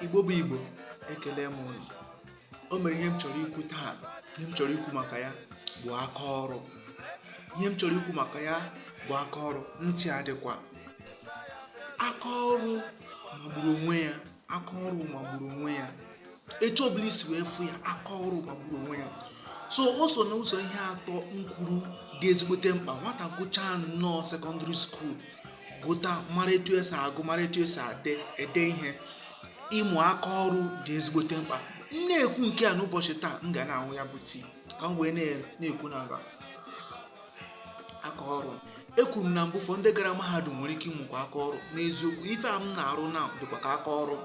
igbo bụ igbo ekele m unu o nwere ihe m chọrọ ikwu taa ihe m chọrọ ikwu maka ya bụ aka ọrụ ihe m chọrọ ikwu maka ya bụ aka ọrụ ntị adịkwa aka ọrụ magburu onwe ya aka ọrụ magburu onwe ya etu ọbụla i si wee fụ ya aka ọrụ magburu onwe ya so o so na ụzọ ihe atọ m kwuru dị ezigbote mkpa nwata gụchaa nnọọ sekọndịrị skuul gụta mara etu esi agụ mara etu esi ade ede ihe ịmụ aka ọrụ dị ezigbote mkpa m na-ekwu nke a n'ụbọchị taa m ga na-aṅụ ya bụ tii ka m wee na-ekwu maka aka ọrụ ekwuru m na mbụ ụfọdụ ndị gara mahadum nwere ike ịmụkwa aka ọrụ n'eziokwu ife a m na-arụ na dịkwa ka aka ọrụ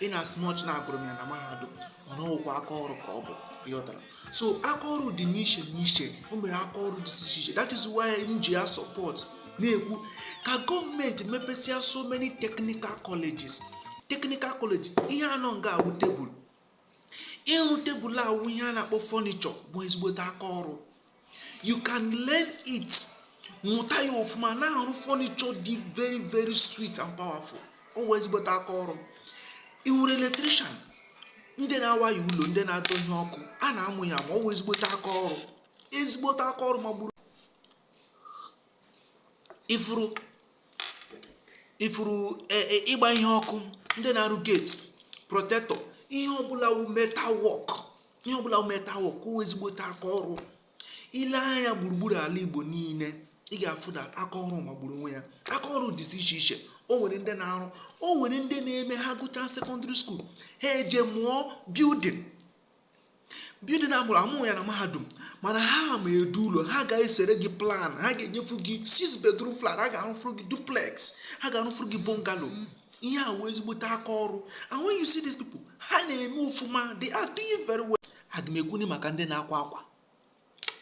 in as much na agụrụ m ya na mahadum mana ọ wụkwa aka ọrụ ka ọ bụ ị ghọtara so aka ọrụ dị n'iche n'iche o nwere aka ọrụ dị iche iche that is why m ji ya support na-ekwu ka gọọmenti mepesịa so many technical colleges technical college ihe a nọ nga a wụ tebụl ịrụ tebụl a wụ ihe a na-akpọ furniture bụ ezigbote aka ọrụ you can learn it mụta ya ọfụma na-arụ furniture dị very very sweet and powerful ọ wụ ezigbote aka ọrụ ị nwere electrician ndị na-awaya ụlọ ndị na-adọnye ọkụ a na-amụ ya amụ ọ wụ ezigbote aka ọrụ ezigbote aka ọrụ magburu ifuru ị fụrụ e, e, ịgba ihe ọkụ ndị na-arụ gate protector ihe ọbụla wụ metal work ihe ọbụla wụ metal work wụ ezigbote aka ọrụ i lee anya gburugburu ala igbo niile ị ga-afụ na aka ọrụ magburu onwe ya aka ọrụ dịzi iche iche o nwere ndị na-arụ o nwere ndị na-eme ha gụchaa sekọndịrị skuul ha eje mụọ building building abụrụ amụghị ya na mahadum mana ha ma edu ụlọ ha ga-esere gị plan ha ga-enyefu gị six bedroom flat ha ga-arụfuru gị duplex ha ga-arụfuru gị bungalow ihe a wụ ezigbote aka ọrụ and when you see these people ha na-eme ofụma they are doing very well aga m ekwuni maka ndị na-akwa akwa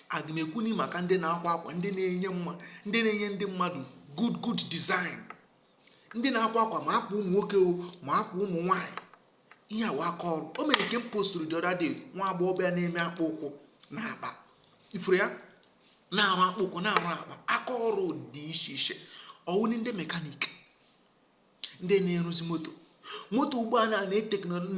aga m ekwuni maka ndị na-akwa akwa ndị na-enye mma ndị na-enye ndị mmadụ good good design ndị na-akwa akwa ma akwa ụmụ nwoke o ma akwa ụmụ nwaanyị ihe a wụ aka ọrụ o nwere nke m postụrụ the other day nwa agbọghọbịa na-eme akpụ ụkwụ na akpa ị fụrụ ya na-arụ akpụ ụkwụ na-arụ akpa aka ọrụ dị iche iche ọ wụni ndị mekanik ndị na-arụzi moto moto ugbu a na-ana teknọlọ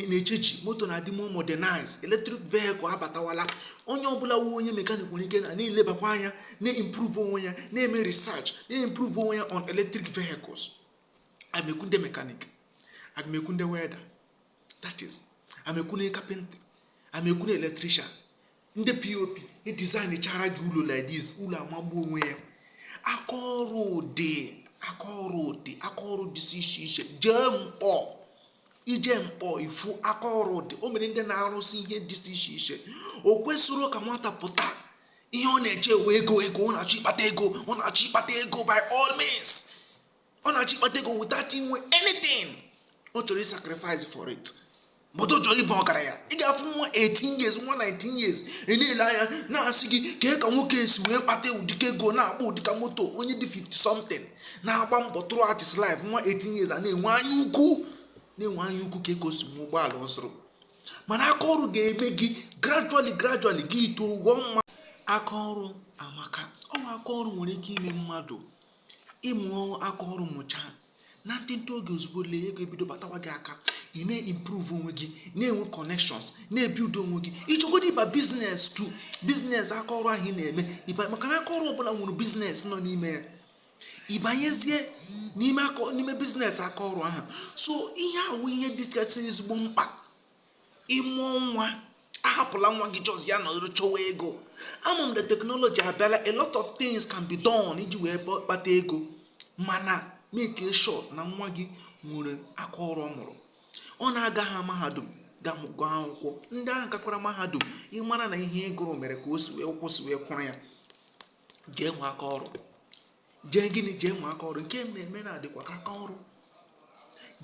na-echenji moto na-adị more modernized electric vehicle abatawala onye ọbụla wụ onye mekanik nwere ike na na-elebakwa anya na-improve onwe ya na-eme research na-improve onwe ya on electric vehicles amekwu ndị mekanik amekwu ndị welder that is amekwu ndị carpenter amekwu ndị electrician ndị pop edesignchara gị ụlọ like this ụlọ amagbu onwe ya aka ọrụ dị aka ọrụ dị aka ọrụ dịsị iche iche jee nkpọ ị jee nkpọ ị fụ aka ọrụ dị o nwere ndị na-arụsị ihe dịsị iche iche o kwesirọ ka nwata pụta ihe ọ na-eche wụ ego ego ọ na-achọ ịkpata ego ọ na-achọ ịkpata ego by all means ọ na-achọ ịkpata ego without inwe anything ọ chọrọ ịsacrifice for it but ọ chọrọ ịba ọgaranya ị ga-afụ nwa 18 years nwa 19 years ị na-ele anya na-asị gị kee ka nwoke a si wee kpata ụdịka ego na-akpọ ụdịka moto onye dị 50 something na-agba mbọ throughout his life nwa 18 years a na-enwe anya ukwu na-enwe anya ukwu ka ego si nwe ụgbọala ọ zụrụ mana aka ọrụ ga-eme gị gradually gradually gị too ụgwọ mma aka ọrụ amaka o nwere aka ọrụ nwere ike ime mmadụ ịmụ aka ọrụ mụchaa na ntịntị oge ozugbo lee ego ebido batawa gị aka ị na-improve onwe gị na-enwe connections na-ebuild onwe gị ịchọgodo ịba business too business aka ọrụ ahụ ị na-eme ịba maka na aka ọrụ ọbụla nwere business nọ n'ime ya ịbanyezie n'ime aka n'ime business aka ọrụ ahụ so ihe a wụ ihe dịkasị ezigbo mkpa ịmụọ nwa ahapụla nwa gị just ya nọrọ chọwa ego ama m na technology abịala a lot of things can be done iji wee kpata ego mana make sure na nwa gị nwere aka ọrụ ọ mụrụ ọ na-agaha mahadum gaa gụọ akwụkwọ ndị ahụ gakwara mahadum ịmara na ihe ị gụrụ mere ka o si wee kwụsị wee kwụrụ ya jee nwe aka ọrụ jee gịnị jee nwe aka ọrụ nke m na-eme na-adịkwa ka aka ọrụ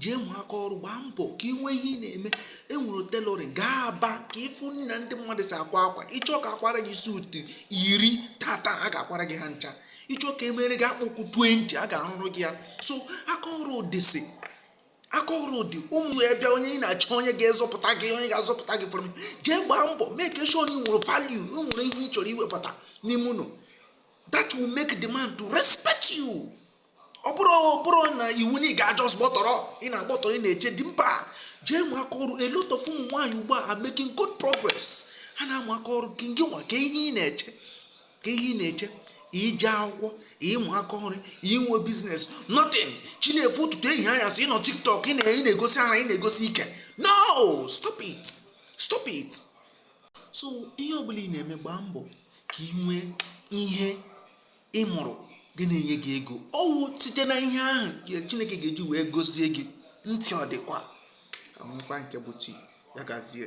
jee nwe aka ọrụ gbaa mbọ ka ị nwee ihe ị na-eme enwere tailoring gaa aba ka ịfụ na ndị mmadụ si akwa akwa ịchọ ka akwara gị suit iri tata a ga-akwara gị ha ncha ịchọ ka emere gị akpụkwụ 20 a ga-arụrụ gị ya so aka ọrụ dịsị aka ọrụ dị ụmụ ya bịa onye ị na-achọ onye ga-azọpụta gị onye ga-azọpụta gị from jee gbaa mbọ make sure na ị nwere value ị nwere ihe ị chọrọ iwepụta n'ime ụlọ that will make the man to respect you ọ bụrọ ọ bụrọ na iwu na ị ga just gbọtọrọ ị na-agbọtọrọ ị na-eche di mba jee nwe aka ọrụ a lot of ụmụ nwaanyị ugbu a making good progress ha na-amụ aka ọrụ gị gị nwa kee ihe ị na-eche kee ihe ị na-eche ije akwụkwọ ịmụ aka ọrụ inwe business nothing chi na-efo ụtụtụ ehihie anyasị ịnọ tiktok ị na-egosi ara ị na-egosi ike no stop it stop it so ihe ọbụla ị na-eme gbaa mbọ ka ị nwee ihe ị mụrụ ga na-enye gị ego ọ wụ site na ihe ahụ ka chineke ga-eji wee gozie gị ntị ọ dịkwa amụkwa nke bụ chi ya gazie